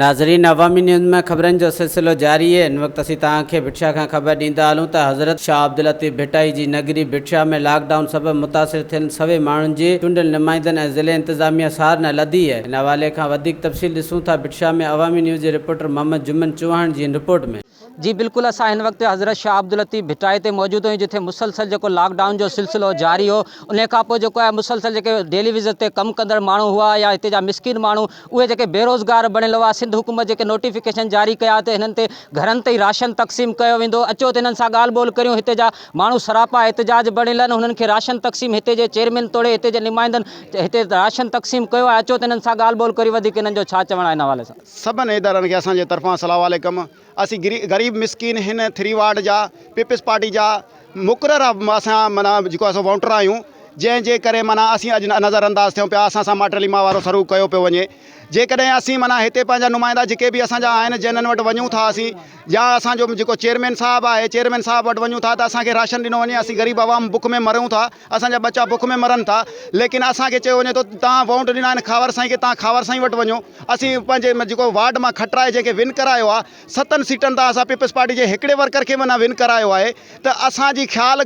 ناظرين عوامي نيوز ۾ خبرن جو سلسلو جاري هي هن وقت اسين توهان کي ڀٽشاه کان خبر ڏيندا هلون ته حضرت شاهه عبداللطيف ڀٽائي جي نگري ڀٽشاه ۾ لاڪ ڊائون سبب متاثر ٿيل سوين ماڻهن جي چونڊيل نمائندن ۽ ضلعي انتظاميه سار نه لڌي هي هن حوالي کان وڌيڪ تفصيل ڏسون ٿا ڀٽشاه ۾ عوامي نيوز جي رپورٽر محمد جمن چوهاڻ جي هن رپورٽ ۾ جي بلڪل اسان هن وقت حضرت شاهه عبداللطيف ڀٽائي تي موجود آهيون جتي مسلسل جيڪو لاڪ ڊائون جو سلسلو جاري هو ان کان پوء جيڪو آهي مسلسل جيڪي ڊيلي وزٽ تي ڪم ڪندڙ ماڻهو هئا يا هتي جا مسڪين ماڻهو اهي جيڪي بيروزگار بڻيل هئا سنڌ حڪومت جيڪي نوٽيفڪيشن جاري ڪيا ته هنن تي گهرن تي ئي راشن تقسيم ڪيو ويندو اچو ته هنن سان ڳالهه ٻولهه ڪريون هتي جا ماڻهو سراپا احتجاج بڻيل آهن هنن کي راشن تقسيم هتي جي چيئرمين توڙي هتي جي نمائندن هتي راشن تقسيم ڪيو آهي اچو ته هنن سان ڳالهه ٻولهه ڪريون وڌيڪ هنن جو ڇا چوڻ آهي ان حوالي سان. سڀن ادارن کي اسان جي طرفان سلام عليڪم اسين غريب مسڪين هن ٿري وارڊ جا پيپلز پارٽي جا مقرر اسان معنيٰ جيڪو اسان ووٽر آهيون جنهن جي ڪري معنيٰ اسين اڄ نظر انداز ٿيون پيا اسان سان ماٽ ليما وارو سلوڪ ڪيو پيو وڃي جيڪڏهن اسين معنيٰ هتي پنهنجا نمائندا جيڪي به اسان جا آهن جنهن وٽ وڃون ٿا اسين يا اسان جو جيڪو چيئرمين صاحب آهي چيئرمين صاحب وٽ وڃون ٿا ته اسان کي راشن ڏنو وڃي اسين غريب عوام بک ۾ مرون ٿا اسان جا ٻچا بک ۾ مرن ٿا ليڪن اسان کي چيو وڃي ٿو توهان ووٽ ڏنا آهن خاور سائين کي توهان خاور سائين وٽ وڃو اسين پنهنجي جيڪو وارڊ مان کٽرائي جنهن کي ون ڪرايو آهي ستن سيٽن تان اسان پيپلز پارٽي جي هڪڙي ورڪر کي به نه ون ڪرايو آهي ته اسان جي خيال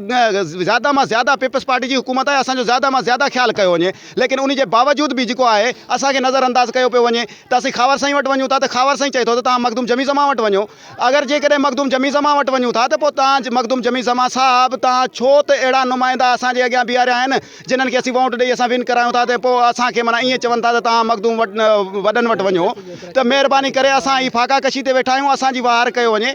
زياده مان زياده پيپلز پارٽي جي حڪومت آهي اسان جو زياده مان زياده خيال ڪيو وڃي ليڪن ان جي باوجود به جيڪو آهي اسان کي نظر انداز ڪيو پيو وڃي ته اسين خاور سائين وٽ وڃون ٿا ته خاور سائين چئي ٿو ته توهان مخدوم جميع زمان وٽ وڃو اگر جيڪڏهن مخدوم جميع زمان وٽ وڃون ٿا ته پوء تان مخدوم جميع زمان صاحب تان ڇو ته اهڙا نمائندا اسان جي اڳيان بيهاريا آهن جنھن کي اسين وونٽ ڏئي اسان ون ڪرايون ٿا ته پوء اسان کي معنيٰ ائين چون ٿا ته تان مخدوم وڏن وٽ وڃو ته مهرباني ڪري اسان هي فاقا ڪشي تي ويٺا آهيون اسان جي وهار ڪيو وڃي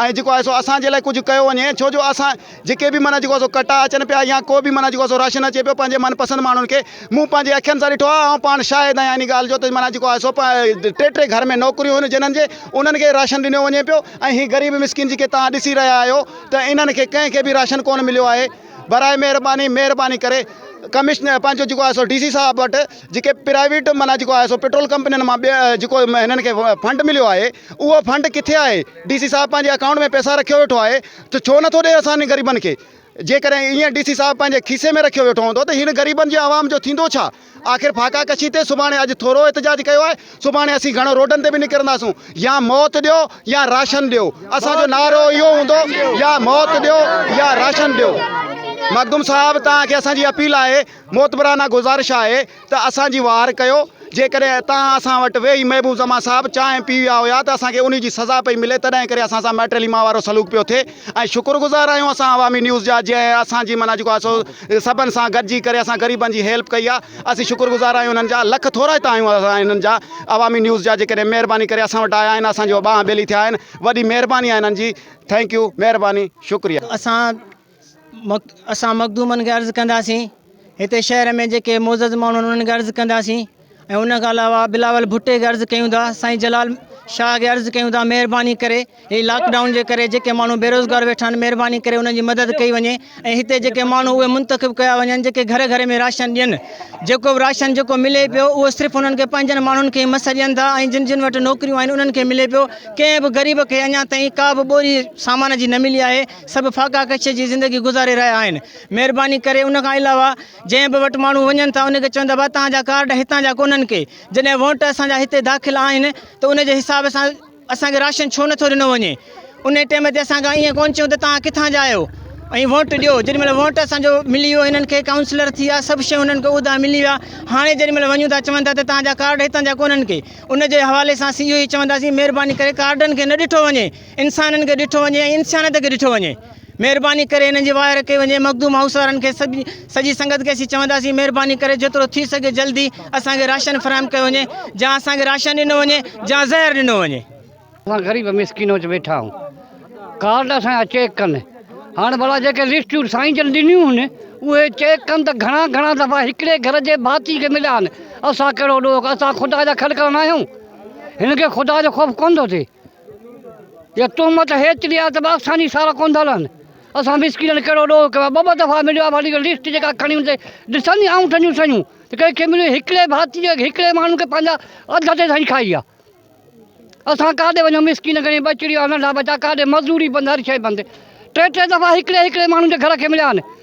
۽ جيڪو آهي سو اسان جي لاء ڪجهه ڪيو وڃي ڇو جو اسان جيڪي به معنيٰ جيڪو سو ڪٽا اچن پيا يا ڪو به معنيٰ جيڪو سو راشن اچي پيو پنهنجي من پسند ماڻهن کي مون پنهنجي اکين سان ڏٺو آهي آئون پاڻ شاهد آهيان ان ڳالهه جو ته معنيٰ جيڪو آهي سو ٽي ٽي گهر ۾ نوڪريون هيون جنهن جي انهن کي راشن ڏنو وڃي پيو ۽ هي غريب مسڪين جيڪي توهان ڏسي رهيا آهيو ته انهن کي ڪنهن کي به راشن ڪونه مليو آهي براء مهرباني مهرباني ڪري ڪمشنر پنهنجو جيڪو آهي سو ڊي سي صاحب وٽ جيڪي پرائيويٽ معنيٰ جيڪو آهي سو پيٽرول ڪمپنين مان ٻيا جيڪو هنن کي فنڊ مليو آهي اهو فنڊ ڪٿي آهي ڊي سي صاحب پنهنجي اڪائونٽ ۾ پيسا رکيو ويٺو آهي ته ڇو نٿو ڏئي اسان غريبن کي؟ جيڪڏهن ايئن ڊي سي صاحب پنهنجي کيسي ۾ رکيو ويٺو هوندو ته هن غريبن جي عوام جو ٿيندو ڇا؟ آخر ڦاڪا ڪشي تي سڀاڻي اڄ ٿورو احتجاج ڪيو آهي سڀاڻي اسين گهڻو روڊن تي به نڪرنداسون يا موت ڏيو يا راشن ڏيو اسان جو نعرو اهو هوندو يا موت ڏيو يا راشن ڏيو مخدوم صاحب توهان کي اسان جي اپيل آهي معتبرانه گذارش آهي ته اسان جي واهر ڪيو، جيڪڏهن توهان اسان وٽ ويهي محبوب زمان صاحب چانهه پي ويا هيا ته اسان کي انهي جي سزا پئي ملي تڏهن ڪري اسان سان مئٽرلي مان وارو سلوڪ پيو ٿئي ۽ شڪر گذار آهيون اسان عوامي نيوز جا جنهن اسان جي معنيٰ جيڪو آهي سو سڀن سان گڏجي ڪري اسان غريبن جي هيلپ ڪئي آهي اسين شڪر گذار آهيون انهن جا لک ٿورا ئي ته آهيون اسان انهن جا عوامي نيوز جا جيڪڏهن مهرباني ڪري اسان وٽ آيا آهن اسان جو ٻانهن ٻيلي ٿيا آهن وڏي مهرباني آهي انهن جي ٿينڪ يو مهرباني شڪريه. اسان اسان مخدومن کي عرض ڪنداسين هتي شهر ۾ جيڪي معزز ماڻهو آهن انهن کي عرض ڪنداسين ۽ ان کان علاوه بلاول ڀٽي کي عرض ڪيون ٿا سائين جلال شاهه کي عرض ڪيون ٿا مهرباني ڪري هي لاڪڊائون جي ڪري جيڪي ماڻهو بيروزگار ويٺا آهن مهرباني ڪري انهن جي مدد ڪئي وڃي ۽ هتي جيڪي ماڻهو اهي منتخب ڪيا وڃن جيڪي گهر گهر ۾ راشن ڏين جيڪو به راشن جيڪو ملي پيو اهو صرف انهن کي پنهنجن ماڻهن کي مس ڏين ٿا ۽ جن جن وٽ نوڪريون آهن انهن کي ملي پيو ڪنهن به غريب کي اڃا تائين ڪا به ٻوري سامان جي نه ملي آهي سڀ ڦاڪا ڪشيء جي زندگي گذاري رهيا آهن. مهرباني ڪري ان کان علاوه جنهن به وٽ ماڻهو وڃن ٿا ان کي چوندا ڀا توهان جا ڪارڊ هتان جا ڪونهن ڪي جڏهن وونٽ اسان جا هتي داخل آهن ته ان جي حساب سان اسان کي راشن ڇو نٿو ڏنو وڃي انهي ٽيم تي اسان کان ائين ڪون چون ته توهان ڪٿان جا آهيو ۽ وونٽ ڏيو جيڏي مهل وونٽ اسان جو ملي ويو هنن کي ڪائونسلر ٿي ويا سڀ شيون هنن کي عهدا ملي ويا هاڻي جيڏي مهل وڃون ٿا چون ٿا ته توهان جا ڪارڊ هتان جا ڪونهن ڪي ان جي حوالي سان اسين اهو ئي چونداسين مهرباني ڪري ڪارڊن کي نه ڏٺو وڃي انسانن کي ڏٺو وڃي ۽ انسانيت کي ڏٺو وڃي مھرباني ڪري انھن جي واء رکي وڃي مخدوم ھائوس وارن کي سڄي سنگت کي اسين چونداسين مھرباني ڪري جيترو ٿي سگھي جلدي اسان کي راشن فراھم ڪيو وڃي جا اسان کي راشن ڏنو وڃي جا زھر ڏنو وڃي. اسان غريب مسڪين وچ ويٺا آھيون ڪارڊ اسان جا چيڪ ڪن ھاڻ ڀلا جيڪي لسٽون سائين جن ڏنيون ھن اھي چيڪ ڪن ته گھڻا گھڻا دفعا ھڪڙي گھر جي ڀاتي کي مليا آھن اسان ڪھڙو ڏوھ اسان خدا جا خلقا ناھيون ھنن کي خدا جو خوف ڪونه ٿو ٿئي. يا تهمت هيتري آهي ته ٻه آساني سارا ڪوندا لهن. اسان مسڪينن ڪهڙو ڏوهه ڪيو آهي. ٻه ٻه دفعا مليو آهي واري لسٽ جيڪا کڻي ان تي ڏسن ني آئونٺن جون سيون ته ڪنهن کي مليو هڪڙي ڀاتي جي هڪڙي ماڻهو کي پنهنجا اڌ اڌ سائين کائي ويا. اسان ڪاڏي وڃون مسڪين گهڻي ٻچڙيون آهن ننڍا ٻچا ڪاڏي مزوري بند هر شي بند ٽي ٽي دفعا هڪڙي هڪڙي ماڻهو جي گهر کي مليا آهن.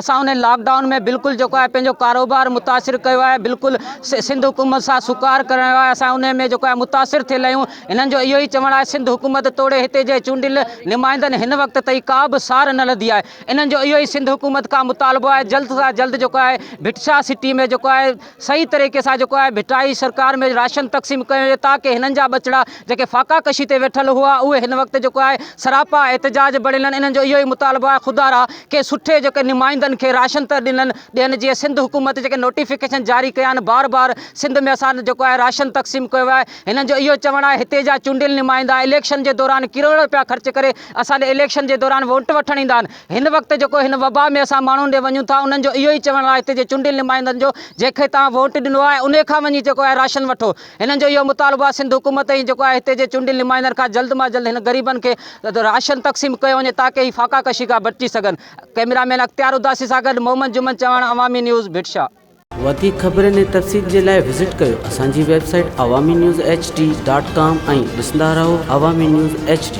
اسان ان لاڪ ڊائون ۾ بلڪل جيڪو آهي پنهنجو ڪاروبار متاثر ڪيو آهي بلڪل سنڌ حڪومت سان سوڪار ڪرڻ آيو آهي اسان ان ۾ جيڪو آهي متاثر ٿيل آهيون هنن جو اهو ئي چوڻ آهي سنڌ حڪومت توڙي هتي جي چونڊيل نمائندن هن وقت تائين ڪا به سار نه لڌي آهي انهن جو اهو ئي سنڌ حڪومت کان مطالبو آهي جلد کان جلد جيڪو آهي ڀٽ شاهه سٽي ۾ جيڪو آهي صحيح طريقي سان جيڪو آهي ڀٽائي سرڪار ۾ راشن تقسيم ڪيو وڃي تاڪه هنن جا ٻچڙا جيڪي فاقا ڪشي تي ويٺل هئا اهي هن وقت جيڪو آهي سراپا احتجاج بڻيل آهن انهن جو اهو ئي مطالبو آهي خدارا ڪنهن سٺي جيڪي نمائندن کي راشن ته ڏنن ڏين جيئن سنڌ حڪومت جيڪي نوٽيفڪيشن جاري ڪيا آهن بار بار سنڌ ۾ اسان جيڪو آهي راشن تقسيم ڪيو ويو آهي هنن جو اهو چوڻ آهي هتي جا چونڊيل نمائندا اليڪشن جي دوران ڪروڙ روپيا خرچ ڪري اسان ڏي اليڪشن جي دوران ووٽ وٺڻ ايندا آهن هن وقت جيڪو هن وبا ۾ اسان ماڻهن ڏي وڃون ٿا انهن جو اهو ئي چوڻ آهي هتي جي چونڊيل نمائندن جو جنهن کي توهان ووٽ ڏنو آهي انهي کان وڃي جيڪو آهي راشن وٺو هنن جو اهو مطالبو آهي سنڌ حڪومت ۽ جيڪو آهي هتي جي چونڊيل نمائندن کان جلد مان جلد هن غريبن کي راشن تقسيم ڪيو وڃي تاڪه هي فاقا ڪشي کان بچي سگهن ڪئميرا مين اختيار اداسي سان گڏ محمد جمن چوهاڻ عوامي نيوز ڀٽشاه. وڌيڪ خبرن ۽ تفصيل جي لاء وزٽ ڪيو اسان جي website Awami news H D dot com ۽ ڏسندا رهو عوامي نيوز ايڇ ڊي.